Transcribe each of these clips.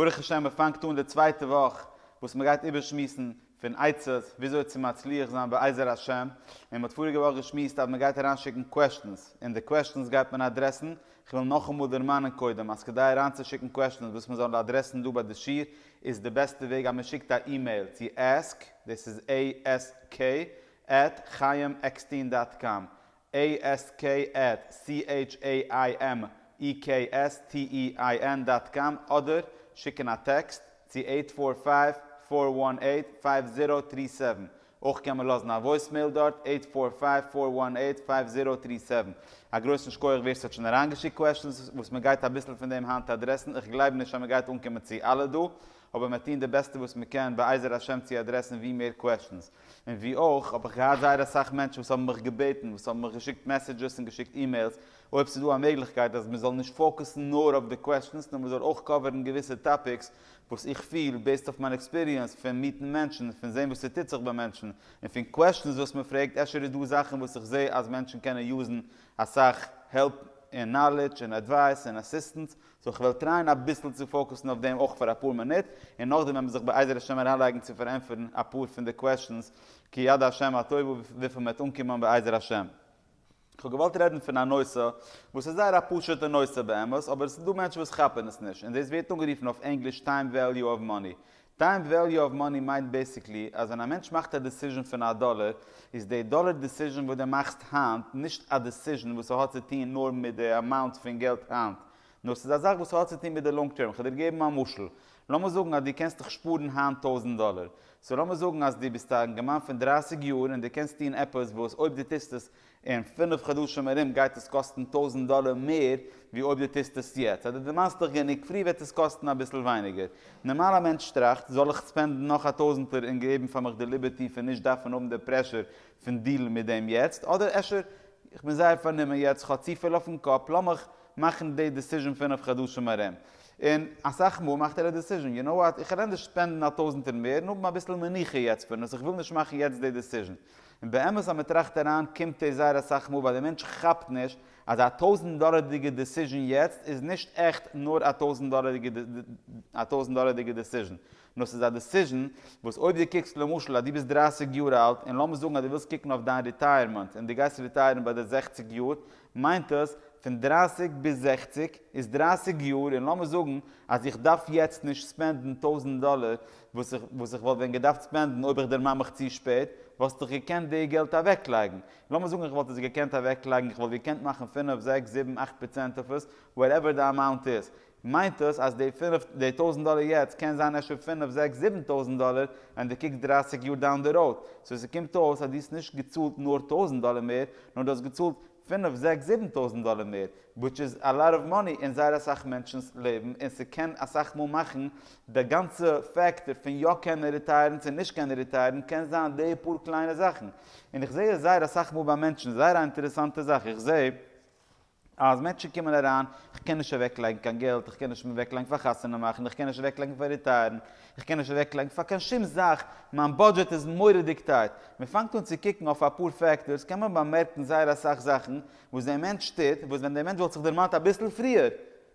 ברוך השם מען פאנגט אן די צווייטע וואך וואס מען גייט איבער שמועסן פון עצות וויאזוי צו מצליח זיין בעזר השם, און מען האט פאריגע וואך געשמועסט אז מען גייט אריין שיקן קוועסטשענס און די קוועסטשענס גייט מען אדרעסן, כ'וויל נאכאמאל דערמאנען קודם אז כדי אריין צו שיקן קוועסטשענס וואס מען זאל אדרעסן דא ביי די שיעור איז די בעסטע וועג אז מען שיקט א אימעיל צו ask, דאס איז ASK, עט חיים עקסטין דאט קאם, askatchimekstn דאט קאם אדער שיקן א טעקסט צו עיט פאר פייוו פאר וואן עיט פייוו זירא טרי סעווען. אויך קען מען לאזן א וואויסמעיל דארט עיט פאר פייוו פאר וואן עיט פייוו זירא טרי סעווען. א גרויסן שקויעך ווער ס'האט שוין אריינגעשיקט קוועשטענס וואס מ'גייט אביסל פון דעם היינט אדרעסן איך גלייב נישט אז מ'גייט אנקומען צו אלע דא אבער מיר טוהן די בעסטע וואס מ'קען בעזר השם צו אדרעסן ווי מער קוועשטענס. און ווי אויך האב איך געהאט זייער אסאך מענטשן וואס האבן מיך געבעטן, וואס האבן מיך געשיקט מעסעדזשעס און געשיקט אימעילס, אויב ס'איז דא א מעגליכקייט אז מ'זאל נישט פאוקוסן נאר אויף די קוועסטשענס, נאר מ'זאל אויך קאווערן געוויסע טאפיקס וואס איך פיל, בעיסד אויף מיין עקספיריענס פון מיטן מענטשן און פון זען וואס ס'טוט זיך ביי מענטשן, און פון קוועסטשענס וואס מ'פרעגט, אפשר איז דא זאכן וואס איך זע אז מענטשן קענען יוזן אסאך העלפ און נאלעדזש און עדווייס און אסיסטענס, סאו איך וועל טרייען אביסל צו פאוקוסן אויף דעם אויך פאר אפאר מינוט, און נאכדעם וועמען זיך בעזר השם אריינלייגן צו פארענטפערן אפאר פון די קוועשאנס כיד השם הטובה וויפיל מען וועט אנקומען בעזר השם. כ'האב געוואלט רעדן פון א נושא וואס איז זייער א פשוטע נושא באמת אבער עס איז דא מענטשן וואס כאפן עס נישט און דאס ווערט אנגערופן אויף ענגליש טיים וועליו אוו מאני טיים וועליו אוו מאני מיינט בעסיקלי אז ווען א מענטש מאכט א דעסיזשען פון א דאלער איז די דאלער דעסיזשען וואס די מאכסט היינט נישט א דעסיזשען וואס האט צו טוהן נאר מיט די אמאונט פון געלט היינט נאר ס'איז א זאך וואס האט צו טוהן מיט די לאנג טערם כ'וועל דיר געבן א משל לאמיר זאגן אז די קענסט דיך שפארן היינט טויזענט דאלער סאו לאמיר זאגן אז די ביסט א אינגערמאן פון דרייסיג יאר און די קענסט טוהן עפעס וואס אויב די טוסט עס אין פינף חדשים ארום גייט עס קאסטן טויזנט דאלער מער ווי אויב דו טוסט עס יעצט, אז דו דערמאנסט דיך גענוג פרי וועט עס קאסטן אביסל ווייניגער. נארמאל א מענטש טראכט, זאל איך ספענדן נאך א טויזנטער און געבן פאר מיך די ליבערטי פון נישט דארפן האבן די פרעשור פון דיעלן מיט דעם יעצט, אדער אפשר איך בין זייער פארנומען יעצט, איך האב צופיל אויפן קאפ, לאמיך מאכן די דעסיזשען פינף חדשים ארום. און אסאך מאל מאכט ער א דעסיזשען, יו נאו וואט, איך העל ענדערש ספענדן א טויזנטער מער און האבן אביסל מנוחה יעצט פון עס, איך וויל נישט מאכן יעצט די דעסיזשען. און באמת אז מ'טראכט אריין קומט דאס זייער אסאך מאל ווייל די מענטש כאפט נישט אז א טויזנט דאלערדיגע דעסיזשען יעצט איז נישט עכט נאר א טויזנט דאלערדיגע א טויזנט דאלערדיגע דעסיזשען נאר ס'איז א דעסיזשען וואס אויב די קוקסט למשל אז די ביסט דרייסיג יאר אלט און לאמיר זאגן אז די ווילסט קוקן אויף דיין ריטייערמענט און די גייסט ריטייערן ביי די זעכציג יאר מיינט דאס פון דרייסיג ביז זעכציג איז דרייסיג יאר און לאמיר זאגן אז איך דארף יעצט נישט ספענדן טויזנט דאלער וואס איך וואס איך וואלט ווען געדארפט ספענדן אויב איך דערמאן מיך צו שפעט וואלסט איך געקענט די געלט אוועקלייגן לאמיר זאגן איך וואלט עס געקענט אוועקלייגן איך וואלט געקענט מאכן פינף זעקס זיבן אכט פראצענט אויף עס וואטעווער די אמאונט איז מיינט דאס אז די פֿינף די טויזענט דאלער יעצט קען זיין אפשר פֿינף זעקס זיבן טויזענט דאלער ווען די קוקסט דרײַסיק יאר דאון די ראוד, סאו ס'קומט אויס אז די האסט נישט געצאלט נאר טויזענט דאלער מער נאר די האסט געצאלט פֿינף זעקס זיבן טויזענט דאלער מער וויטש איז א לאט אוו מאני אין זייער אסאך מענטשנ'ס לעבן אין ס'קען אסאך מאל מאכן די גאנצע פעקטער פון יא קענען ריטייערן צו נישט קענען ריטייערן קען זיין די פאר קליינע זאכן אין איך זעה עס זייער אסאך מאל ביי מענטשן זייער א אינטערעסאנטע זאך איך זעה אז מענטשן קומען אריין, איך קען נישט אוועק לייגן קיין געלט, איך קען נישט אוועק לייגן פאר חתונה מאכן, איך קען נישט אוועק לייגן פאר ריטייערן, איך קען נישט אוועק לייגן פאר קיין שום זאך, מיין בודזשעט איז מורא'דיג טייט. מען פאנגט אן צו קוקן אויף אפאר פעקטארס קען מען באמערקן זייער אסאך זאכן וואס דער מענטש טוט וואס ווען דער מענטש וואלט זיך דערמאנט אביסל פריער,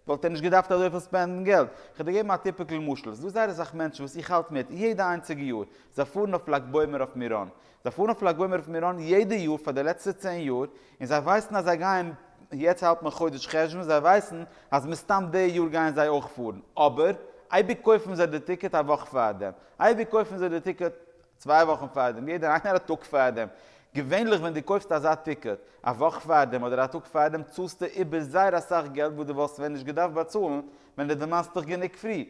וואלט ער נישט געדארפט אזויפיל ספענדן געלט. איך וועל דיר געבן א טיפיקל משל, ס'איז דא זייער אסאך מענטשן וואס איך האלט מיט יעדע איינציגע יאר, זיי פארן אויף לג בעומר אויף מירון. זיי פארן אויף לג בעומר אויף מירון יעדע יאר פאר די לעצטע צען יאר, און זיי ווייסן אז זיי גייען, יעצט האלט מען חודש חשוון, זיי ווייסן אז מסתם די יאר גייען זיי אויך פארן, אבער אייביג קויפן זיי די טיקעט א וואך פארדעם, אייביג קויפן זיי די טיקעט צוויי וואכן פארדעם, יעדער איינער א טאג פארדעם. געווענליך ווען דו קויפסט אזא טיקעט א וואך פארדעם אדער א טאג פארדעם צאלסטו איבער זייער אסאך געלט וואס דו וואלסט ווען נישט געדארפט באצאלן ווען דו דערמאנסט דיך גענוג פרי.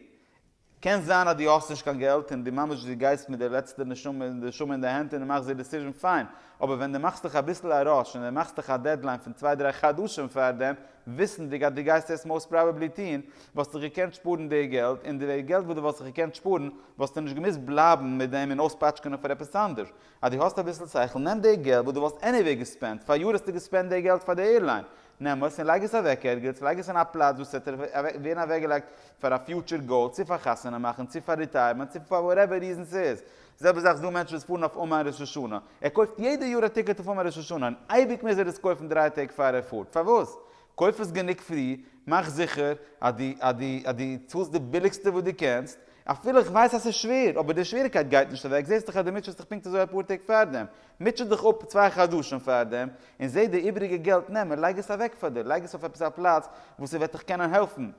קען זיין אז דו האסט נישט קיין געלט און דו ממש דו גייסט מיט די לעצטע נשמה נשמה אין די הענט און דו מאכסט די דיסיזשען פיין, אבער ווען דו מאכסט דיך אביסל א ראש און דו מאכסט דיך א דעדליין פון צוויי דריי חדשים פארדעם וויסנדיג אז דו גייסט עס מאוסט פראבעבלי טון, וואלסטו געקענט שפארן די געלט, און די געלט וואס דו וואלסט געקענט שפארן, וואלסטו נישט געמוזט בלייבן מיט דעם און אויספאטשקענען פאר עפעס אנדערש. אז דו האסט אביסל שכל, נעם די געלט וואס דו וואלסט עניוועי געספענדט, פאריאר האסטו געספענדט די געלט פאר די עירליין, נעם עס און לייג עס אוועק ערגעץ, לייג עס אין א פלאץ וואס עס וועט ווערן אוועקגעלייגט פאר א פיוטשער גאול, צו פאר חתונה מאכן, צו פאר ריטייערמענט, צו פאר וואטעווער ריזן ס'איז, זעלבע זאך ס'דא מענטשן וואס פארן אויף אומאן ראש השנה, ער קויפט יעדע יאר א טיקעט אויף אומאן ראש השנה, און אייביג מוז ער עס קויפן דריי טעג פאר ער פארט, פארוואס? קויף עס גענוג פרי, מאך זיכער אז דו אז דו אז דו צאלסט די ביליגסטע וואס דו קענסט, אפילו איך ווייס אז ס'איז שווער, אבער די שוועריקייט גייט נישט אוועק, זעסט דאך אז דו מוטשעסט דיך פונקט אזוי אפאר טעג פארדעם, מוטשע דיך אפ צוויי חדשים פארדעם, און זע די איבעריגע געלט נעם און לייג עס אוועק פאר דיר, לייג עס אויף עפעס א פלאץ וואו ס'וועט דיך קענען העלפן.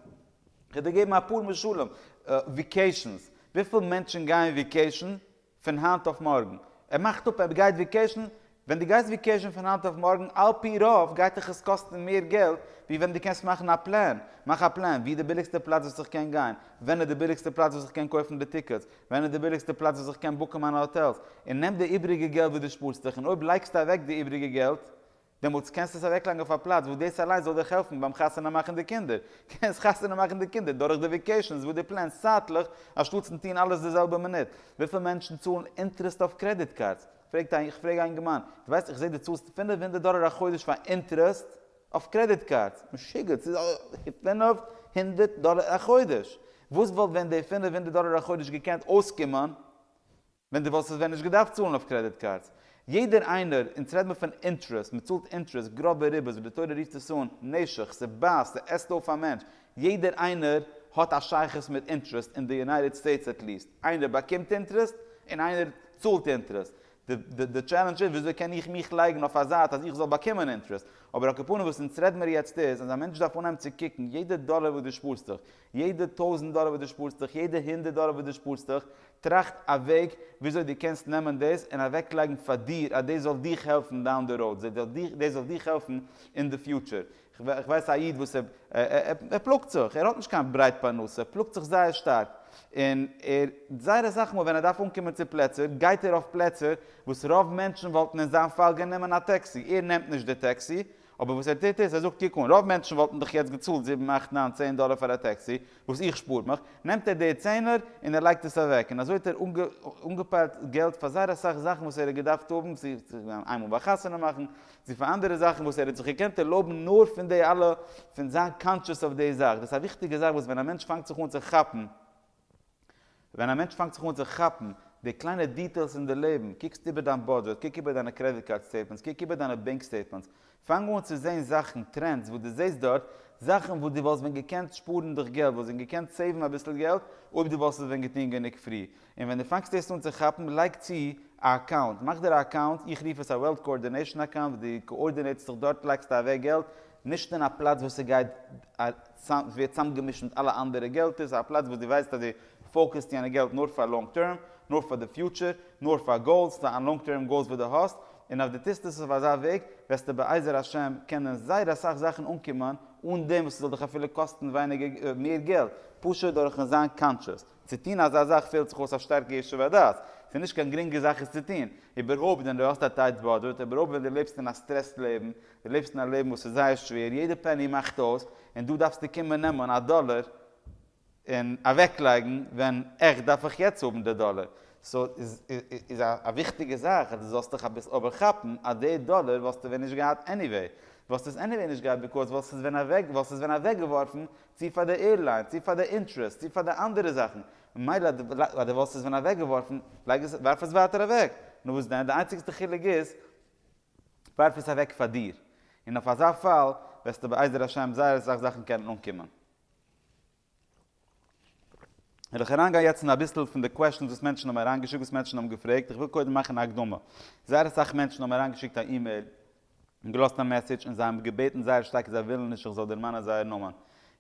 כ'וועל דיר געבן אפאר משלים, וויקעישאנס, וויפיל מענטשן גייען וויקעישאן פון היינט אויף מארגן? ער מאכט אפ ער גייט וויקעישאן, ווען דו גייסט וויקעישאן פון היינט אויף מארגן על פי רוב גייט דיך עס קאסטן מער געלט ווי ווען דו קענסט מאכן א פלאן, מאך א פלאן, ווי איז די ביליגסטע פלאץ וואס איך קען גיין? ווען איז די ביליגסטע פלאץ וואס איך קען קויפן די טיקעטס? ווען איז די ביליגסטע פלאץ וואס איך קען בוקן מיינע האטעלס? און נעם די איבריגע געלט וואס דו שפארסט דיך און אויב לייגסטו אוועק די איבריגע געלט דעמאלטס קענסטו עס אוועקלייגן אויף א פלאץ וואס דאס אליינס זאל דיך העלפן ביים חתונה מאכן די קינדער. קענסט חתונה מאכן די קינדער דורך די וויקעישאנס וואס דו פלענסט צייטליך, אנשטאטס פון טון אלעס די זעלבע מינוט. וויפיל מענטשן צאלן אינטערעסט אויף קרעדיט קארדס? פרעגט א, איך פרעג א אינגערמאן, דו ווייסט איך זעה דו צאלסט פֿינף הונדערט דאלער א חודש פאר אינטערעסט אויף קרעדיט קארדס? משוגעת, ס'איז פֿינף הונדערט דאלער א חודש! וואס וואלט ווען די פֿינף הונדערט דאלער א חודש געקענט אויסקומען ווען די וואלסט עס ווען נישט געדארפט צאלן אויף קרעדיט קארדס. יעדער איינער, אונז רעד מיר פון אינטרעסט, מען צאלט אינטרעסט, גראבע ריבית ווי די תורה רופט עס אן, נשך, ס'בייסט, ס'עסט אויף א מענטש, יעדער איינער האט א שייכות מיט אינטרעסט אין די יונייטעד סטעיטס עט ליעסט, איינער באקומט אינטרעסט און איינער צאלט אינטרעסט, די די טשעלענדזש איז וויאזוי קען איך מיך לייגן אויף א זייט אז איך זאל באקומען אינטרעסט, אבער א קאפאנע וואס אונז רעד מיר יעצט איז אז א מענטש דארף אנהייבן צו קוקן יעדע דאלער וואס דו שפארסט דיך, יעדע טויזנט דאלער וואס דו שפארסט דיך, יעדע הונדערט דאלער וואס דו שפארסט דיך, טראכט א וועג וויאזוי דו קענסט נעמען דאס און אוועקלייגן פאר דיר אז דאס זאל דיך העלפן דאון די ראוד, דאס זאל דיך העלפן אין די פיוטשער. איך ווייס א איד וואס ער פלאגט זיך, ער האט נישט קיין ברייט פרנסה, ער פלאגט זיך זייער שטארק, און ער זייער אסאך מאל ווען ער דארף אנקומען צו פלעצער גייט ער אויף פלעצער וואס רוב מענטשן וואלטן אין זיין פאל גענומען א טעקסי, ער נעמט נישט די טעקסי, אבער וואס ער טוט איז, ער זאגט קוק אן, רוב מענטשן וואלטן דאך יעצט געצאלט זיבן אכט ניין צען דאלער פאר א טעקסי, וואס איך שפאר מיך, נעמט ער די צענער און ער לייגט עס אוועק, און אזוי האט ער אנגעפיילט געלט פאר זייער אסאך זאכן וואס ער האט געדארפט האבן, צו איינמאל ביי חתונה מאכן, צו פאר אנדערע זאכן וואס ער האט זיך געקענט ערלויבן נאר פון די אלע, פון זיין קאנטשעס אויף די זאך, דאס איז א וויכטיגע זאך וואס ווען א מענטש פאנגט זיך אן צו כאפן, ווען א מענטש פאנגט זיך אן צו כאפן די קליינע דיטעילס אין די לעבן, קוקסט איבער דיין בודזשעט, קוק איבער דיינע קרעדיט קארד סטעיטמענטס, קוק איבער דיינע בענק סטעיטמענטס, פאנג אן צו זען זאכן, טרענדס וואס דו זעסט דארט, זאכן וואס דו וואלסט ווען געקענט שפארן דיך געלט, וואלסט ווען געקענט סעיוון אביסל געלט אויב דו וואלסט עס ווען געטון גענוג פרי, און ווען דו פאנגסט עס אן צו כאפן, לייג צו א אקאונט, מאך דיר א אקאונט, איך רוף עס א וועלט קאארדינעישאן אקאונט, וואס דו קאארדינעיטסט זיך דארט לייגסטו אוועק געלט, נישט אין א פלאץ וואס ס'גייט. ס'ווערט צאמגעמישט מיט אלע אנדערע געלטער, ס'איז א פלאץ וואס דו ווייסט אז דו פאוקעסט יענע געלט נאר פאר לאנג טערם, נאר פאר די פיוטשער, נאר פאר גאולס, פאר אן לאנג טערם גאולס וואס דו האסט, און אז דו טוסט עס אויף אזא וועג, וועסטו בעזר השם קענען זייער אסאך זאכן אנקומען, אן דעם וואס ס'זאל דיך אפילו קאסטן ווייניגער, מער געלט, פשוט דורכ'ן זיין קאנטשעס. צו טון אזא זאך פעלט זיך אויס א שטארקע ישוב הדעת, ס'איז נישט קיין גרינגע זאך עס צו טון, איבערהויפט ווען דו האסט א טייט באדזשעט, איבערהויפט ווען דו לעבסט אין א סטרעסד לעבן, דו לעבסט אין א לעבן וואס איז זייער שווער, יעדע פעני מאכט אויס, און דא דארפסטו קומען נעמען א דאלער און אוועקלייגן ווען עכט דארף איך יעצט האבן די דאלער. סא איז א וויכטיגע זאך אז דו זאלסט דיך אביסל אבער כאפן אז די דאלער וואלסטו ווען נישט געהאט עניוועי, וואלסט עס עניוועי נישט געהאט ביקאוז וואלסט עס ווען אוועק וואלסט עס ווען אוועקגעווארפן צו פאר די עירליין צו פאר די אינטרעסט צו פאר די אנדערע זאכן, ממילא אז דו וואלסט עס ווען אוועקגעווארפן לייג עס ווארף עס ווייטער אוועק, נו וואס דען, די איינציגסטע חילוק איז ווארף עס אוועק פאר דיר, און אויף אזא פאל וועסטו בעזר השם זייער אסאך זאכן קענען אנקומען. וועל איך אריינגיין יעצט אין אביסל פון די קוועשאנס וואס מענטשן האבן אריינגעשיקט, וואס מענטשן האבן געפרעגט, איך וויל קודם מאכן א הקדמה, זייער אסאך מענטשן האבן אריינגעשיקט א אימעיל און געלאזט א מעסעדזש און זיי האבן געבעטן זייער שטארק זיי ווילן נישט איך זאל דערמאנען זייער נאמען,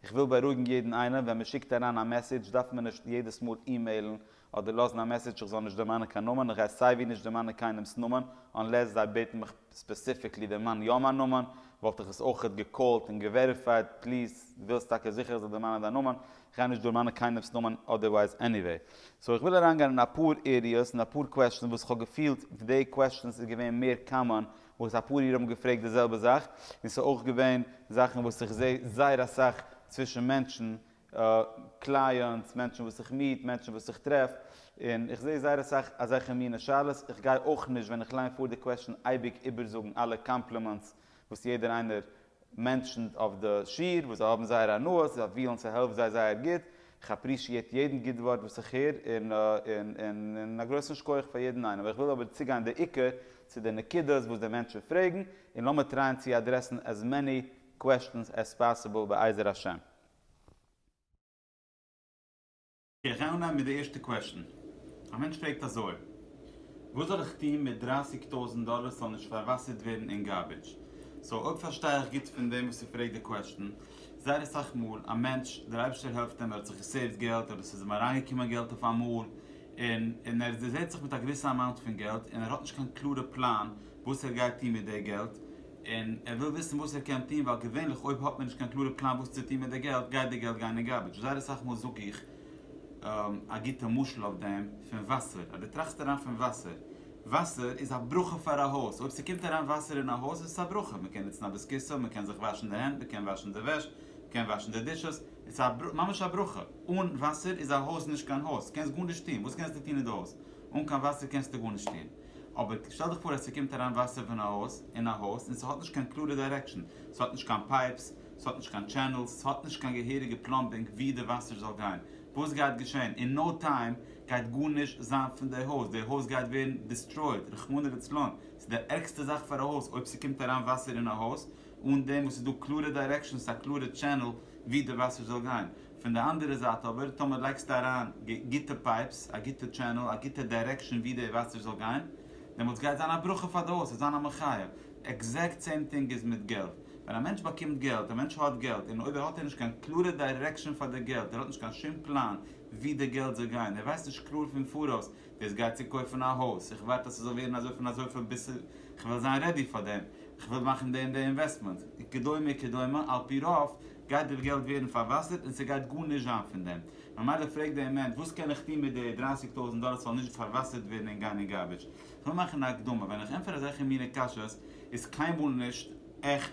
איך וויל בארואיגן יעדן איינעם, ווען מען שיקט אריין א מעסעדזש דארף מען נישט יעדעס מאל אימעילן אדער לאזן א מעסעדזש איך זאל נישט דערמאנען קיין נאמען, איך גיי סייווי נישט דערמאנען קיינעמס נאמען, אנלעס זיי בעטן מיך ספעסיפיקלי דערמאן יא מיין נאמען, וואלט איך עס אויכעט געקאלט און געוועריפייד, פליז, דו ווילסט טאקע זיכער איך זאל דערמאנען דיין נאמען, איך גיי נישט דערמאנען קיינעמס נאמען אדערווייז עניוועי. סאו איך וויל אריינגיין אין אפאר עריעס און אפאר קוועסטשענס וואס איך האב געפילט די קוועסטשענס איז געווען מער קאמאן וואס אפאר אירע האבן געפרעגט די זעלבע זאך, און ס'איז אויך געווען זאכן וואס איך זעה זייער אסאך צווישן מענטשן קלייענטס, מענטשן וואס איך מיעט, מענטשן וואס איך טרעף, און איך זעה זייער אסאך אזעלכע מינע שאלות, איך גיי אויך נישט ווען איך ליין פאר די קוועסטשן אייביג איבערזאגן אלע קאמפלימענטס וואס יעדער איינער מענטשענט אויף די שיעור, וואס זיי האבן זייער הנאה, זיי פיהלן ס'העלפט זיי זייער גוט, איך אפרישיעט יעדן גוט ווארט וואס איך הער, און א גרויסן שקויעך פאר יעדן איינעם, איך וויל אבער צוגיין די עיקר צו די נקודות וואס די מענטשן פרעגן, און לאמיר טרייען צו אדרעסן עז מעני קוועסטשענס עז פאסיבל בעזר השם. איך גיי אנהייבן מיט די ערשטע קוועשאן. א מענטש פרעגט אזוי, וואס זאל איך טון מיט דרייסיג טויזענט דאלער ס'זאל נישט פארוואסערט ווערן אין גארבידזש? סאו אויב פארשטיי איך גוט פון דעם וואס ער פרעגט די קוועשאן, זייער אסאך מאל א מענטש, דער אייבערשטער העלפט אים, ער האט זיך געסעיווט געלט אדער ס'איז אים אריינגעקומען געלט אויף אמאל, און און ער דערזעהט זיך מיט א געוויסע אמאונט פון געלט און ער האט נישט קיין קלארע פלאן וואס ער גייט טון מיט די געלט, און ער וויל וויסן וואס ער קען טון ווייל געווענליך אויב האט מען נישט קיין קלארע פלאן וואס צו טון מיט די געלט גייט די געלט גיין אין גארבידזש זייער אסאך מאל זאג איך א גוטע משל אויף דעם פון וואסער אז דו טראכסט אריין פון וואסער וואסער איז א ברכה פאר א הויז אויב ס'קומט אריין וואסער אין א הויז איז עס א ברכה מ'קען נוצן א ביסקיסע מ'קען זיך וואשן די הענט מ'קען וואשן די וועש מ'קען וואשן די דישעס עס איז ממש א ברכה אן וואסער איז א הויז נישט קיין הויז קענסט גארנישט טון וואס קענסטו טון אין די הויז אן קיין וואסער קענסטו גארנישט טון. אבער שטעל דיך פאר אז ס'קומט אריין וואסער פון א הויז אין א הויז און ס'האט נישט קיין קלארע דיירעקשאן, ס'האט נישט קיין פייפס, ס'האט נישט קיין טשענעלס, ס'האט נישט קיין געהעריגע פלאמבינג ווי די וואסער זאל גיין, וואס גייט געשען? אין נאו טיים גייט גארנישט זיין פון די הויז, די הויז גייט ווערן דיסטרויד, רחמנא לצלן, ס'איז די ערגסטע זאך פאר א הויז אויב ס'קומט אריין וואסער אין א הויז אן דעם וואס ס'איז דא קלארע דיירעקשאנס, א קלארע טשענעל ווי די וואסער זאל גיין. פון די אנדערע זייט אבער טאמער לייגסטו אריין גוטע פייפס, א גוטע טשענעל, א גוטע דיירעקשאן ווי די וואסער זאל גיין, דעמאלטס גייט זיין א ברכה פאר די הויז, ס'וועט זיין א מחיה. עקזעקט סעים טינג איז מיט געלט. ווען א מענטש באקומט געלט, א מענטש האט געלט, און אויב האט ער נישט קיין קלארע דיירעקשאן פאר די געלט, ער האט נישט קיין שום פלאן ווי די געלט זאל גיין, ער ווייסט נישט קלאר פון פאראויס, דאס גייט צו קויפן א הויז, איך ווארט אז ס'זאל ווערן אזוי פון אזויפיל ביז ס'איז, כ'וויל זיין רעדי פאר דעם, כ'וויל מאכן די און די אינוועסטמענט, וכדומה כדומה, על פי רוב, גייט די געלט ווערן פארוואסערט און ס'גייט גארנישט זיין פון דעם. ממילא פרעגט די אמענד, וואס קען איך טון מיט די דרייסיג טויזנט דאלער ס'זאל נישט פארוואסערט ווערן און גיין אין גארביטש? כ'וויל מאכן א הקדמה, ווען איך ענטפער אזעלכע מינע קשיות איז קיינמאל נישט עכט,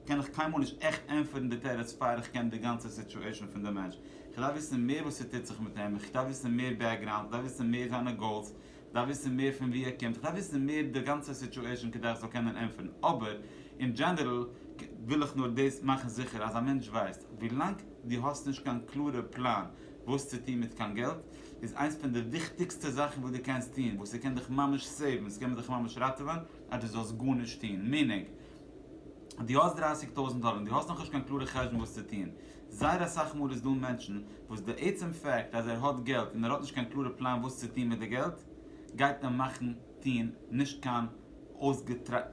קען איך קיינמאל נישט עכט ענטפערן די תירוץ פאר איך קען די גאנצע סיטואשען פון די מענטש. כ'דארף וויסן מער וואס ס'טוט זיך מיט אים, כ'דארף וויסן מער בעקגראונד, כ'דארף וויסן מער זיינע גאולס, דארף וויסן מער פון ווי ער קומט, איך דארף וויסן מער די גאנצע סיטואשען כדי איך זאל קענען ענטפערן, אבער אין דזשענערל וויל איך נאר דאס מאכן זיכער אז א מענטש ווייסט, ווילאנג דו האסט נישט קיין קלארע פלאן וואס צו טון מיט קיין געלט, איז איינס פון די וויכטיגסטע זאכן וואס דו קענסט טון, וואס ס'קען דיך ממש סעיוון, ס'קען דיך ממש ראטעווען אז דו זאלסט גארנישט טון, מיענינג, דו האסט דרייסיג טויזענט דאלער און דו האסט נאכנישט קיין קלארע חשבון וואס צו טוהן, זייער אסאך מאל איז דא מענטשן וואס די עצם פאקט אז ער האט געלט און ער האט נישט קיין קלארע פלאן וואס צו טוהן מיט די געלט גייט אים מאכן טוהן נישט קיין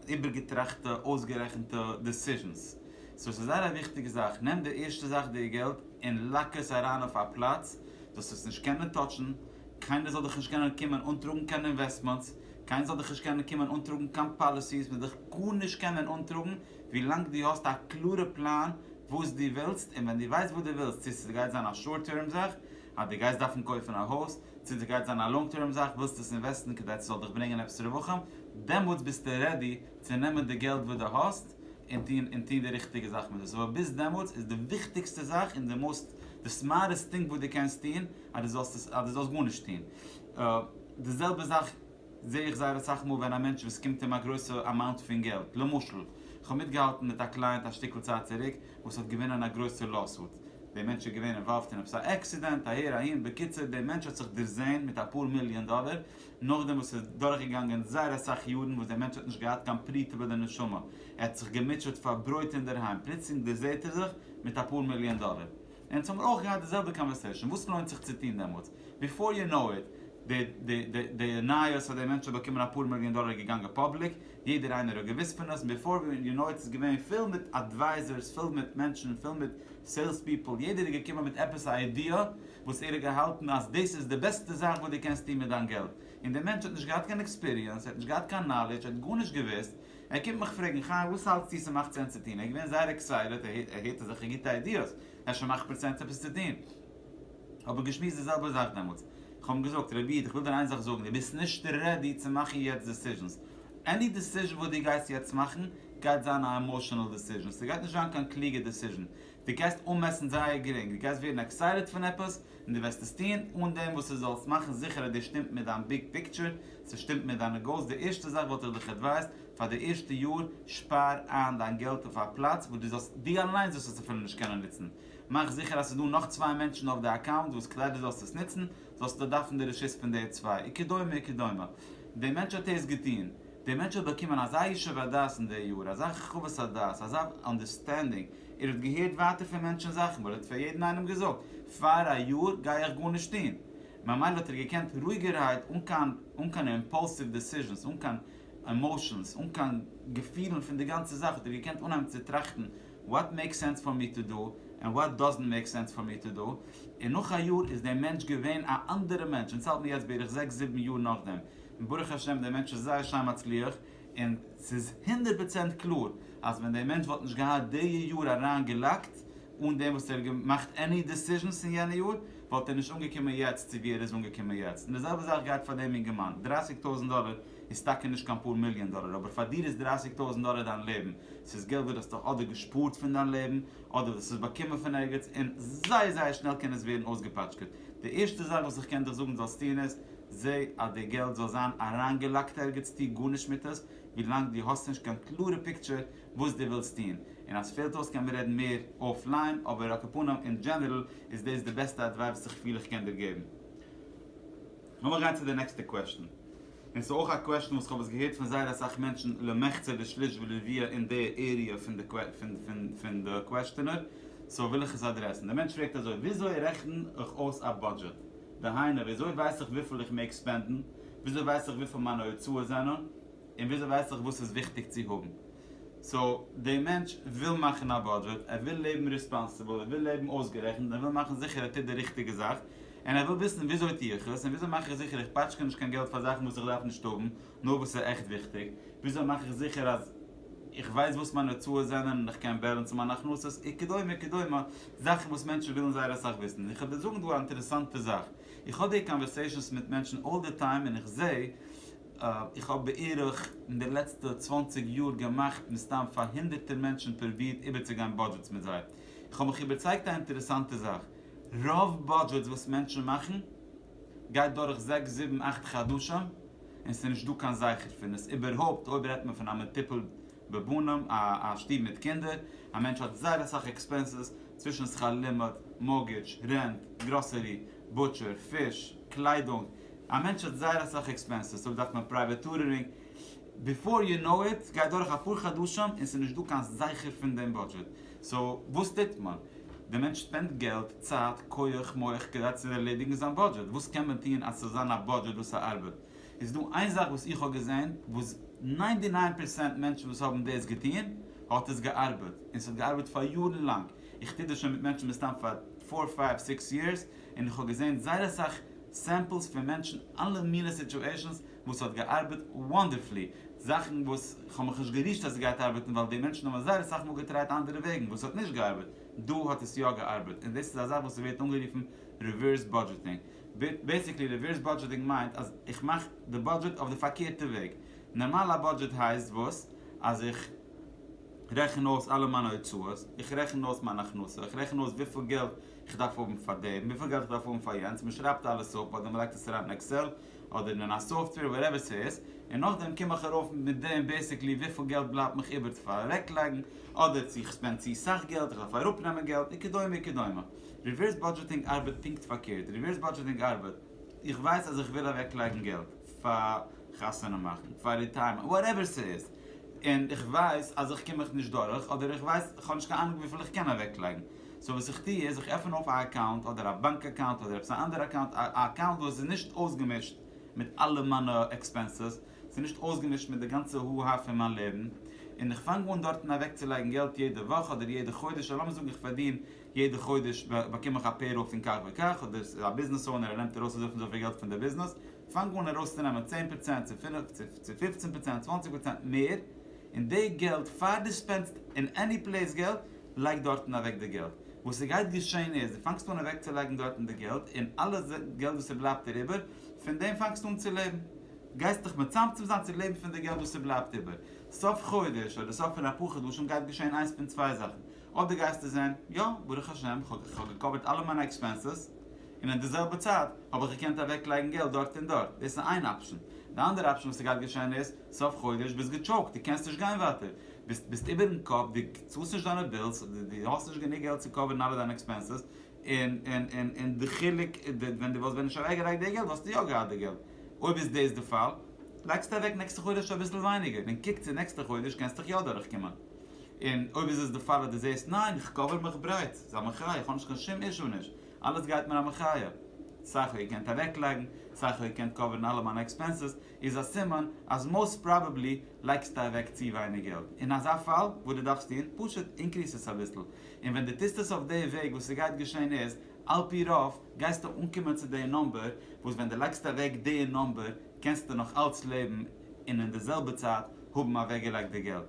איבערגעטראכטע אויסגערעכנטע דעסיזשענס. סאו עס איז זייער א וויכטיגע זאך, נעם די ערשטע זאך די געלט און לאק עס אריין אויף א פלאץ זאלסט עס נישט קענען טאטשן, קיינער זאל דיך נישט קענען קומען אנטראגן קיין אינוועסטמענטס, קיינער זאל דיך נישט קענען קומען אנטראגן קיין פאליסיס, מען וועט דיך גארנישט קענען אנטראגן ווי לאנג דו האסט א קלארע פלאן וואס דו ווילסט, און ווען דו ווייסט וואס דו ווילסט, צו ס'גייט זיין א שארט טערם זאך אז דו גייסט דארפן קויפן א הויז, צו ס'גייט זיין א לאנג טערם זאך ווילסט עס אינוועסטן כדי ס'זאל דיך ברענגען עפעס רווחים, דעמאלטס ביסטו רעדי צו נעמען די געלט וואס דו האסט און טון און טון די ריכטיגע זאך מיט עס, אבער ביז דעמאלטס איז די וויכטיגסטע זאך און די מאסט די סמארטעסט טינג וואס דו קענסט טון אז דו זאלסט עס אז דו זאלסט גארנישט טון. די זעלבע זאך זע איך זייער אסאך מאל ווען א מענטש וואס קומט אים א גרויסע אמאונט פון געלט, למשל איך האב מיטגעהאלטן מיט א קלייענט א שטיקל צייט צוריק וואס האט געווינען א גרויסע לאוסוט, די מענטש איז געווען אינוואלווד אין עפעס א עקסידענט אהער אהין, בקיצור די מענטש האט זיך דערזעהן מיט אפאר מיליאן דאלער, נאכדעם וואס איז דורכגעגאנגען זייער אסאך יארן וואס די מענטש האט נישט געהאט קיין פרי טובה לנשמה, ער האט זיך געמוטשעט פאר ברויט אינדערהיים, פלוצלינג דערזעהט ער זיך מיט אפאר מיליאן דאלער. אונז האבן אויך געהאט די זעלבע קאנווערסעישאן, וואס לוינט זיך צו טון דעמאלטס? ביפאר יו נאו איט, די נייעס אז דער מענטש האט באקומען אפאר מיליאן דאלער איז געגאנגען פאבליק, יעדער איינער האט געוואוסט פון עס, און ביפאר יו נאו איט איז געווען פול מיט אדווייזערס, פול מיט מענטשן, פול מיט סעילס פיפל, יעדער איז געקומען מיט עפעס א איידיע וואס ער האט געהאלטן אז דאס איז די בעסטע זאך וואס דו קענסט טון מיט דיין געלט, און דער מענטש האט נישט געהאט קיין עקספיריענס, ער האט נישט געהאט קיין נאלעדזש, ער האט גארנישט געוואוסט, ער קומט מיך פרעגן, חיים וואס האלטסטו ס'מאכט סענס צו טון? ער איז געווען זייער עקסייטעד, ער הערט אזעלכע גוטע איידיעס, אפשר מאכט מיר סענס עפעס צו טון. האבן געשמועסט די זעלבע זאך דעמאלטס, איך האב אים געזאגט, רבי איד איך וויל דיר איין זאך זאגן, דו ביסט נישט רעדי צו מאכן יעצט דעסיזשענס, עני דעסיזשען וואס דו גייסט יעצט מאכן גייט זיין א עמאשענעל דעסיזשען, ס'גייט נישט זיין קיין קלוגע דעסיזשען, דו גייסט אנמעסן זייער גרינג, דו גייסט ווערן עקסייטעד פון עפעס, און דו וועסט עס טון אן דעם וואס דו זאלסט מאכן זיכער אז דאס שטימט מיט דיין ביג פיקטשער, ס'שטימט מיט דיינע גאולס, די ערשטע זאך וואלט איך דיך עדווייזט, פאר די ערשטע יאר, שפאר איין דיין געלט אויף א פלאץ וואס דו זאלסט, דו אליינס וועסט עס אפילו נישט קענען נוצן, מאך זיכער אז ס'איז דא נאך צוויי מענטשן אויף די אקאונט וואס כדי דו זאלסט עס נוצן, זאלסטו דארפן די רשות פון די צוויי, וכדומה וכדומה. דער מענטש האט עס געטון. דער מענטש האט באקומען אזא ישוב הדעת אין די יאר, אזא חוות הדעת, אזא אנדערסטענדינג, ער האט געהערט ווייטער פון מענטשן זאכן, ווייל ער האט פאר יעדן איינעם געזאגט, פאר א יאר גיי איך גארנישט טון, ממילא האט ער געקענט רואיגערהייט אן קיין אן קיין אימפאלסיוו דעסיזשענס, אן קיין עמאושענס, אן קיין געפילן פון די גאנצע זאך, האט ער געקענט אנהייבן צו טראכטן, וואט מעיק סענס פאר מי טו דא, ענד וואט דאזענט מעיק סענס פאר מי טו דא, און נאך א יאר איז דער מענטש געווען א אנדערע מענטש, אונז האלט מיר יעצט בערך זעקס זיבן יאר נאכדעם, און ברוך השם דער מענטש איז זייער שיין מצליח, און ס'איז הונדערט פראצענט קלאר אז ווען דער מענטש וואלט נישט געהאט די יאר אריין געלאקט אן דעם וואס ער האט געמאכט עני דעסיזשענס אין יענע יאר וואלט ער נישט אנגעקומען יעצט צו ווי ער איז אנגעקומען יעצט, און די זעלבע זאך גייט פאר דעם אינגערמאן, דרייסיג טויזענט דאלער איז טאקע נישט קיין פאר מיליאן דאלער אבער פאר דיר איז דרייסיג טויזענט דאלער דיין לעבן, ס'איז געלט וואס די האסט דאך אדער געשפארט פון דיין לעבן אדער די האסט עס באקומען פון ערגעץ און זייער זייער שנעל קען עס ווערן אויסגעפאטשקעט, די ערשטע זאך וואס איך קען דיך זאגן זאלסט טון איז, זע אז די געלט זאל זיין אריינגעלאקט ערגעץ טו גארנישט מיט עס ווילאנג דו האסט נישט קיין קלארע פיקטשער וואס דו ווילסט טון און אז פעלט אויס קען מען רעדן מער אויף ליין אבער על כפנים אין דזשענערל איז דאס די בעסטע אדווייס וואס איך פיל איך קען דיר געבן. לאמיר גיין צו די נעקסטע קוועשטן און ס'איז אויך א קוועשטן וואס כ'האב עס געהערט פון זייער אסאך מענטשן למחצה ושליש ורביע אין די עריע פון די פון די קוועשטענער סאו וויל איך עס אדרעסן די מענטש פרעגט אזוי וויאזוי רעכן איך אויס א בודזשעט דהיינו, וויאזוי ווייס איך וויפיל איך מעג ספענדן? וויאזוי ווייס איך וויפיל מיינע הוצאות זענען? און וויאזוי ווייס איך וואס איז וויכטיג צו האבן? סאו, די מענטש וויל מאכן א בודזשעט, ער וויל לעבן ריספאנסיבל, ער וויל לעבן אויסגערעכנט, און ער וויל מאכן זיכער ער טוט די ריכטיגע זאך, און ער וויל וויסן וויאזוי טו איך עס, און וויאזוי מאך איך זיכער איך פאטשקע נישט קיין געלט פאר זאכן וואס איך דארף נישט האבן, נאר וואס איז עכט וויכטיג, וויאזוי מאך איך זיכער אז איך ווייס וואס מיינע הוצאות זענען און איך קען בעלענסן מיינע הכנסות וכדומה כדומה, זאכן וואס מענטשן ווילן זייער אסאך וויסן. און איך וועל דיר זאגן דא א אינטערעסאנטע זאך, איך האב די קאנווערסעישאנס מיט מענטשן אלל די טיים און איך זע, איך האב בערך אין די לעצטע צוואַנציק יאר געמאכט מסתם פאר הונדערטער מענטשן פרובירט איבערצוגיין בודזשעטס מיט זיי, איך האב מיך איבערצייגט א אינטערעסאנטע זאך, רוב בודזשעטס וואס מענטשן מאכן גייט דורך זעקס זיבן אכט חדשים און ס'איז נישט דא קיין זכר פון עס, איבערהויפט אויב רעדט מען פון א מטופל בבנים, א שטוב מיט קינדער, א מענטש האט זייער אסאך עקספענסעס, צווישן שכר לימוד, מארגעדזש, רענט, גראסערי, בוטשער, פיש, קליידונג, א מענטש האט זייער אסאך עקספענסעס, אויב דארף מען פרייוועט טוטורינג, ביפאר יו נאו איט גייט דורך אפאר חדשים און ס'איז נישט דא קיין זכר פון דעם בודזשעט, סאו וואס טוט מען? דער מענטש שפענדט געלט, צייט, כח, מח, כדי צו ערלעדיגן זיין בודזשעט. וואס קען מען טון אז ס'זאל זיין א בודזשעט וואס ס'ארבעט? איז דא איין זאך וואס איך האב געזען וואס ניין די ניין פערסענט מענטשן וואס האבן דאס געטון האט עס געארבעט, און ס'האט געארבעט פאר יארן לאנג, איך טו דאס שוין מיט מענטשן מסתם פאר פאר פייוו סיקס יערס, און איך האב געזען זייער אסאך סעמפלס פון מענטשן אלע מיני סיטועשאנס, וואס האט געארבעט וואנדערפולי, זאכן וואס כ'האב מיך נישט גערישט אז עס גייט ארבעטן ווייל די מענטשן האבן זייער אסאך מאל געטרייט אנדערע וועגן וואס האט נישט געארבעט, דא האט עס יא געארבעט און דאס איז א זאך וואס ס'ווערט אנגערופן ריווערס בודזשעטינג, בעיסיקלי ריווערס בודזשעטינג מיינט אז איך מאך די בודזשעט אויף די פארקערטע וועג, נארמאל א בודזשעט הייסט וואס? אז איך רעכן אויס אלע מיינע הוצאות, איך רעכן אויס מיין הכנסה, איך רעכן אויס וויפיל געלט איך דארף האבן פאר דעם, וויפיל געלט איך דארף האבן פאר יענץ, מ'שרייבט אלעס אפ אדער מ'לייגט עס אריין אין עקסעל, אדער אין א סאפטוועיר וואטעווער סאיז, און נאכדעם קום איך ארויף מיט דעם בעסיקלי וויפיל געלט בלייבט מיך איבער צו פארעקלייגן, אדער צו איך ספענד צו סאך געלט, איך דארף אראפנעמען געלט, וכדומה וכדומה. ריווערס באדזשעטינג ארבעט פונקט פארקערט, ריווערס באדזשעטינג ארבעט, איך ווייס אז איך וויל אוועקלייגן געלט פאר חתונה מאכן, פאר ריטייערמענט, וואטעווער סאיז, און איך ווייס אז איך קום מיך נישט דורך, אדער איך ווייס, איך האב נישט קיין אנונג וויפיל איך קען אוועקלייגן, סאו וואס איך טוה איז איך עפען אויף א אקאונט אדער א באנק אקאונט אדער עפעס א אנדערע אקאונט א אקאונט וואס איז נישט אויסגעמישט מיט אלע מיינע עקספענסעס ס'איז נישט אויסגעמישט מיט די גאנצע הו הא פון מיין לעבן און איך פאנג אן דארטן אוועקצולייגן געלט יעדע וואך אדער יעדע חודש און לאמיר זאגן איך פארדין יעדע חודש באקום איך א פעיראל פון כך וכך אדער ס'איז א ביזנעס אונער ער נעמט ארויס אזויפיל און אזויפיל געלט פון די ביזנעס פאנג אן ארויסצונעמען צען פראצענט צו פינף צו צו פופצן פראצענט צוואנציג פראצענט מער און די געלט פאר די ספענדסט אין עני פלעיס געלט לייג דארטן אוועק די געלט. וואס ס'גייט געשען איז, דו פאנגסט אן אוועקצולייגן דארטן די געלט, און אלע געלט וואס ס'בלייבט דיר איבער, פון דעם פאנגסטו אן צו לעבן. גייסט דיך מצמצם זיין צו לעבן פון די געלט וואס ס'בלייבט איבער. סוף חודש, אדער סוף פון אפאר חדשים גייט געשען איינס פון צוויי זאכן. אדער גייסטו זען, יא, ברוך השם, כ'האב געקאווערט אלע מיינע עקספענסעס, און אין די זעלבע צייט האב איך געקענט אוועקלייגן געלט דארט און דארט. דאס איז איין אפשן. די אנדערע אפשן וואס ס'גייט געשען איז, סוף חודש ביסט געטשאוקט די קענסט נישט גיין ווייטער ביסט ביסט איבערן קאפ די צאלסט נישט דיינע בילס די האסט נישט גענוג געלט צו קאווערן אלע דיינע עקספענסעס און און און און די חילוק ווען די וואלסט ווען נישט אוועק געלייגט די געלט וואלסטו יא געהאט די געלט אויב איז דאס די פאל לייגסטו אוועק נעקסטע חודש אביסל ווייניגער און קוק צו נעקסטע חודש קענסט דיך יא דורך קומען און אויב איז עס די פאל אז די זעהסט ניין איך קאווער מיך ברייט סאיז א מחיה איך האב נישט קיין שום אישו נישט אלעס גייט מיר א מחיה סך הכול איר קענט אוועק לייגן סך הכול איר קענט קאווערן אלע מיינע עקספענסעס איז א סימן אז מאוסט פראבעבלי לייגסטו אוועק צו ווייניג געלט. אין אזא פאל וואס דו דארפסט טון? פשוט אינקריס עס אביסל. און ווען דו טוסט עס אויף די וועג וואס עס גייט געשען איז, על פי רוב, גייסטו אנקומען צו די נומבער וואס ווען דו לייגסט אוועק די נומבער קענסטו נאך אלץ לעבן און אין די זעלבע צייט האבן אוועקגעלייגט די געלט.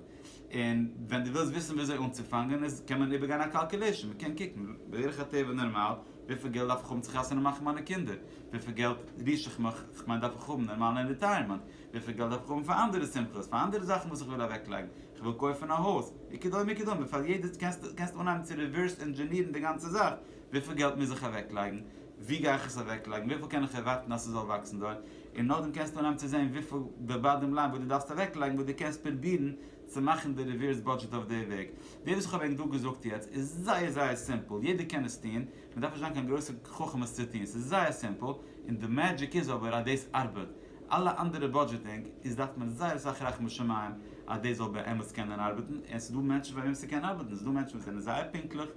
און ווען דו ווילסט וויסן וויאזוי אנצופאנגען איז קען מען איבערגיין א קאלקולעישאן, מען קען קוקן בדרך הטבע נארמאל וויפיל געלט דארף איך האבן צו חתונה מאכן מיינע קינדער, וויפיל געלט ריש איך מיך, כ'מיין דארף איך האבן נארמאל אין ריטייערמענט, וויפיל געלט דארף איך האבן פאר אנדערע שמחות, פאר אנדערע זאכן וואס איך וויל אוועקלייגן, כ'וויל קויפן א הויז, וכדומה וכדומה, פאר יעדעס קענסטו אנהייבן צו ריווערס ענדזשענירן די גאנצע זאך, וויפיל געלט מוז איך אוועקלייגן, ווי גיי איך עס אוועקלייגן? וויפיל קען איך ערווארטן אז ס'זאל וואקסן דארט? און נאכדעם קענסטו אנהייבן צו זען וויפיל די באדעם ליין וואס דו דארפסט אוועקלייגן וואס דו קענסט פרובירן צו מאכן די ריווערס בודזשעט אויף די וועג. די וואס איך האב ענק דא געזאגט יעצט איז זייער זייער סימפל, יעדער קען עס טון, מען דארף נישט זיין קיין גרויסע חכם עס צו טון, ס'איז זייער סימפל, און די מעדזשיק איז אבער אז דאס ארבעט. אלע אנדערע בודזשעטינג איז דארף מען זייער אסאך רחמי שמים אז דאס זאל באמת קענען ארבעטן, און ס'דא מענטשן פאר וועם ס'קען ארבעטן, ס'דא מענטשן וואס זענען זייער פונקטליך,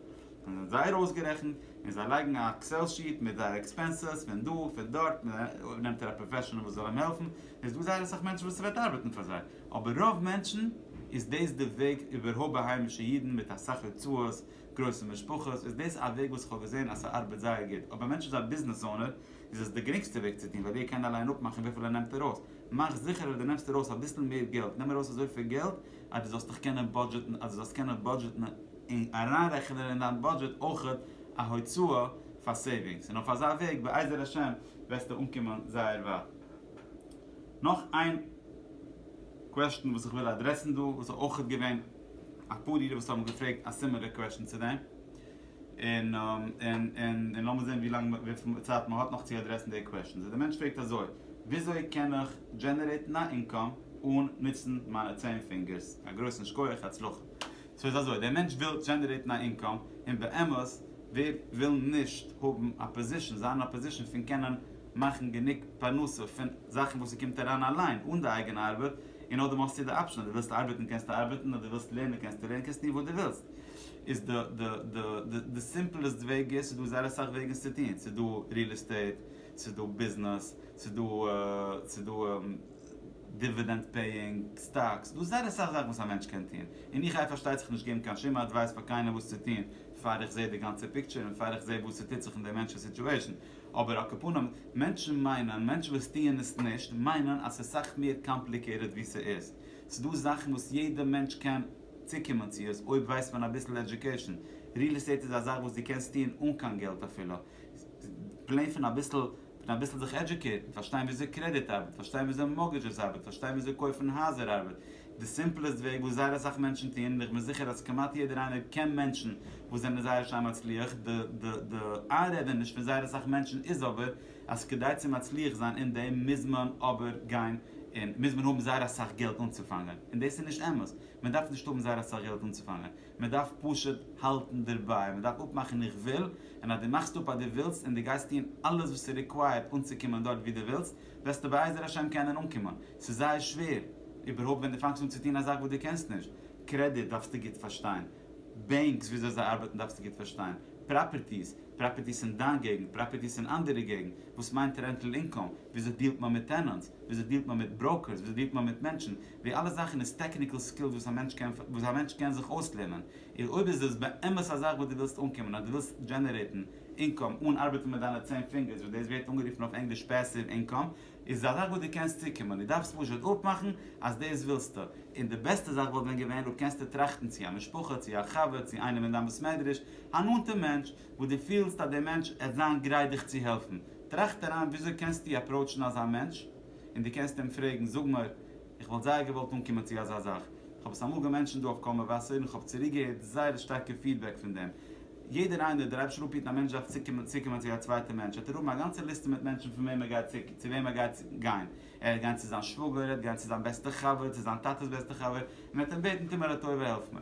און זיי זייער אויסגערעכנט, און זיי לייגן א עקסעל שיעט מיט זייערע עקספענסעס פון דא פון דארט, אויב נעמט ער א פראפעשענעל וואס זאל אים העלפן, איז דא זייער אסאך מענטשן וואס ס'וועט ארבעטן פאר זיי, אבער רוב מענטשן איז דאס די וועג, איבערהויפט ביי היימישע אידן מיט אסאך הוצאות, גרויסע משפחות, איז דאס א וועג וואס כ'האב געזען אז ס'ארבעט זייער גוט, אויב א מענטש איז א ביזנעס אונער איז עס די גרינגסטע וועג צו טון ווייל ער קען אליין אפמאכן וויפיל ער נעמט ארויס, מאך זיכער אז דו נעמסט ארויס אביסל מער געלט, נעם ארויס אזויפיל געלט אז דו זאלסט דיך קענען בודזשעטן אז דו זאלסט קענען בודזשעטן. און אריינרעכענען אין דיין בודזשעט אויכעט א הוצאה פאר סעיווינגס, און אויף אזא וועג בעזר השם וועסטו אנקומען זייער ווייט. נאך איין קוועשטען וואס איך וויל אדרעסן דא, וואס איז אויכעט געווען אפאר אידן וואס האבן געפרעגט א סימילער קוועשטען צו דעם, און און און און לאמיר זען ווי לאנג וויפיל צייט מ'האט נאך צו אדרעסן די קוועשטען. סאו די מענטש פרעגט אזוי, וויאזוי קען איך דזשענערעיטן א אינקאם אן נוצן מיינע צען פינגערס? א גרויסן שקויעך, הצלחה. סאו איז אזוי, דער מענטש וויל דזשענערעיטן א אינקאם, און באמת ווער וויל נישט האבן א פאזישן, זיין אין א פאזישן פון קענען מאכן גענוג פרנסה פון זאכן וואס ס'קומט אריין אליין אן די אייגענע ארבעט, און נאכדעם האסטו די אפשן אז דו ווילסט ארבעטן קענסטו ארבעטן, אויב דו ווילסט לערנען קענסטו לערנען, קענסט טון וואס דו ווילסט. איז די די די די די סימפלעסט וועג איז, ס'איז דא זייער אסאך וועגן עס צו טון, ס'איז דא ריעל עסטעיט, ס'איז דא ביזנעס, ס'איז דא ס'איז דא. דיווידענד פעיאינג סטאקס, דא זייער אסאך זאכן וואס א מענטש קען טון, און איך גיי פארשטייט זיך נישט געבן קיין שום אדווייס פאר קיינעם וואס צו טון פאר איך זעה די גאנצע פיקטשער און פאר איך זעה וואס ס'טוט זיך אין די מענטש'ס סיטועשאן, אבער על כפנים מענטשן מיינען, מענטשן וואס טוען עס נישט, מיינען אז ס'איז סאך מער קאמפליקעיטעד ווי ס'איז, ס'דא זאכן וואס יעדע מענטש קען צוקומען צו עס אויב ווייסט מען אביסל עדיוקעישאן, ריעל עסטעיט איז א זאך וואס דו קענסט טון אן קיין געלט אפילו, פלען פון אביסל פון אביסל זיך עדזשוקעיטן, פארשטיין וויאזוי קרעדיט ארבעט, פארשטיין וויאזוי מארגעדזשעס ארבעט, פארשטיין וויאזוי קויפן הייזער ארבעט, די סימפלעסט וועג וואס זייער אסאך מענטשן טוען, און איך בין זיכער אז כמעט יעדער איינער קען מענטשן וואס זענען זייער שיין מצליח, די די די איינרעדעניש פון זייער אסאך מענטשן איז אבער אז כדי צו מצליח זיין אין דעם מוז מען אבער גיין און מוז מען האבן זייער אסאך געלט אנצופאנגען, און דאס איז נישט אמת, מען דארף נישט האבן זייער אסאך געלט אנצופאנגען, מען דארף פשוט האלטן דערביי, מען דארף אפמאכן איך וויל, און אז דו מאכסט אפ אז דו ווילסט און דו גייסט טון אלעס וואס איז ריקווייערט אנצוקומען דארט וואו דו ווילסט, וועסטו בעזר השם קענען אנקומען. ס'איז זייער שווער, איבערהויפט ווען דו פאנגסט אן צו טון א זאך וואס דו קענסט נישט. קרעדיט דארפסטו גוט פארשטיין, בענקס וויאזוי זיי ארבעטן דארפסטו גוט פארשטיין, פראפערטיס, פראפערטיס אין דיין געגנט, פראפערטיס אין אנדערע געגנט, וואס מיינט רענטל אינקאם, וויאזוי דיעלט מען מיט טענענטס, וויאזוי דיעלט מען מיט בראוקערס, וויאזוי דיעלט מען מיט מענטשן, די אלע זאכן איז טעקניקעל סקילס וואס א מענטש קען וואס א מענטש קען זיך אויסלערנען. איר אויב איז דאס באמת א זאך וואס דו ווילסט אנקומען אדער דו ווילסט דזשענערעיטן אינקאם אן ארבעטן מיט דיינע צען פינגערס וואס דאס ווערט אנגערופן אויף ענגליש פעסיוו אינקאם איז עס א זאך וואס דו קענסט צוקומען דו דארפסט פשוט אפמאכן אז דאס ווילסטו און די בעסטע זאך וואלט ווען געווען אויב קענסטו טראכטן צו א משפחה צו א חבר צו איינעם אין דיין בית מדרש א נאנטע מענטש וואס דו פילסט אז דער מענטש עט זיין גרייט דיך צו העלפן טראכט אריין וויאזוי קענסטו אפראוטשן אזא מענטש און דו קענסט אים פרעגן, זאג מיר, איך וואלט זייער געוואלט אנקומען צו אזא זאך, איך האב עס אמאל געמענטשענט דא אויף קול מבשר און איך האב צוריק געהערט זייער שטארקע פידבעק פון דעם, יעדער איינער, דער אייבערשטער אנפירט א מענטש דארף צוקומען צוקומען צו א צווייטע מענטש, וועט ער האבן א גאנצע ליסטע מיט מענטשן פון וועם ער גייט צו צו וועם ער גייט גיין, ער וועט גיין צו זיין שוואגער, ער וועט גיין צו זיין בעסטע חבר, צו זיין טאטע'ס בעסטע חבר, און וועט אים בעטן טו מיר א טובה העלף מיר.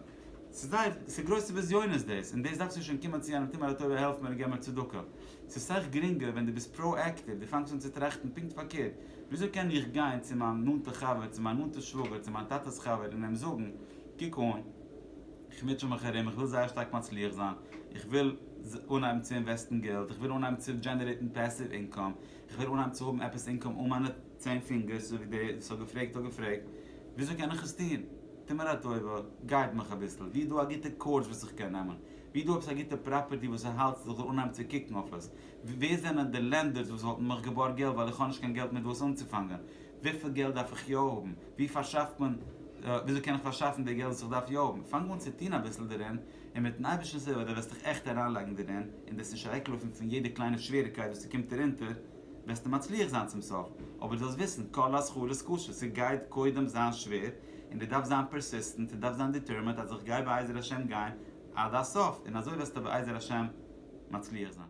ס'איז זייער, ס'איז גרויסע בזיונות דאס, און דאס דארפסטו שוין קומען צו יענעם טו מיר א טובה העלף מיר און געב מיר צדקה. ס'איז סאך גרינגער ווען דו ביסט פראאקטיוו, דו פאנגסט אן צו טראכטן פונקט פארקערט, וויאזוי קען איך גיין צו מיין נאנטע חבר, צו מיין נאנטע שוואגער, צו מיין טאטע'ס חבר און אים זאגן, קוק אן, איך מוטשע מיך ארום, איך וויל זייער שטארק מצליח זיין, איך וויל אנהייבן צו אינוועסטן געלט, איך וויל אנהייבן צו דזשענערעיטן פעסיוו אינקאם, איך וויל אנהייבן צו האבן עפעס אינקאם אן מיינע צען פינגערס, אזוי ווי דער וואס האט געפרעגט האט געפרעגט, וויאזוי קען איך עס טון? טו מיר א טובה, גייד מיך אביסל, ווי איז דא א גוטע קאורס וואס איך קען נעמען? ווי איז דא עפעס א גוטע פראפערטי וואס איך האלט אז איך זאל אנהייבן צו קוקן אויף עס? ווער זענען די לענדערס וואס וואלטן מיך געבארגט געלט ווייל איך האב נישט קיין געלט מיט וואס אנצופאנגען? וויפיל געלט דארף איך יא האבן? ווי פארשאפט מען, וויאזוי קען איך פארשאפן די געלט וואס איך דארף יא האבן? פאנג אן צו טון אביסל דערין, און מיטן אייבערשטנ'ס הילף דו וועסט דיך עכט אריינלייגן דערין, און דו וועסט נישט אוועקלויפן פון יעדע קליינע שוועריגקייט וואס ס'קומט דיר אונטער, וועסטו מצליח זיין צום סוף. אבער דו זאלסט וויסן, כל השכר איז כשר, ס'גייט קודם זיין שווער, און דו דארפסט זיין פערסיסטענט און דארפסט זיין דיטערמענט אז איך גיי בעזר השם גיין עד הסוף און אזוי וועסטו בעזר השם מצליח זיין.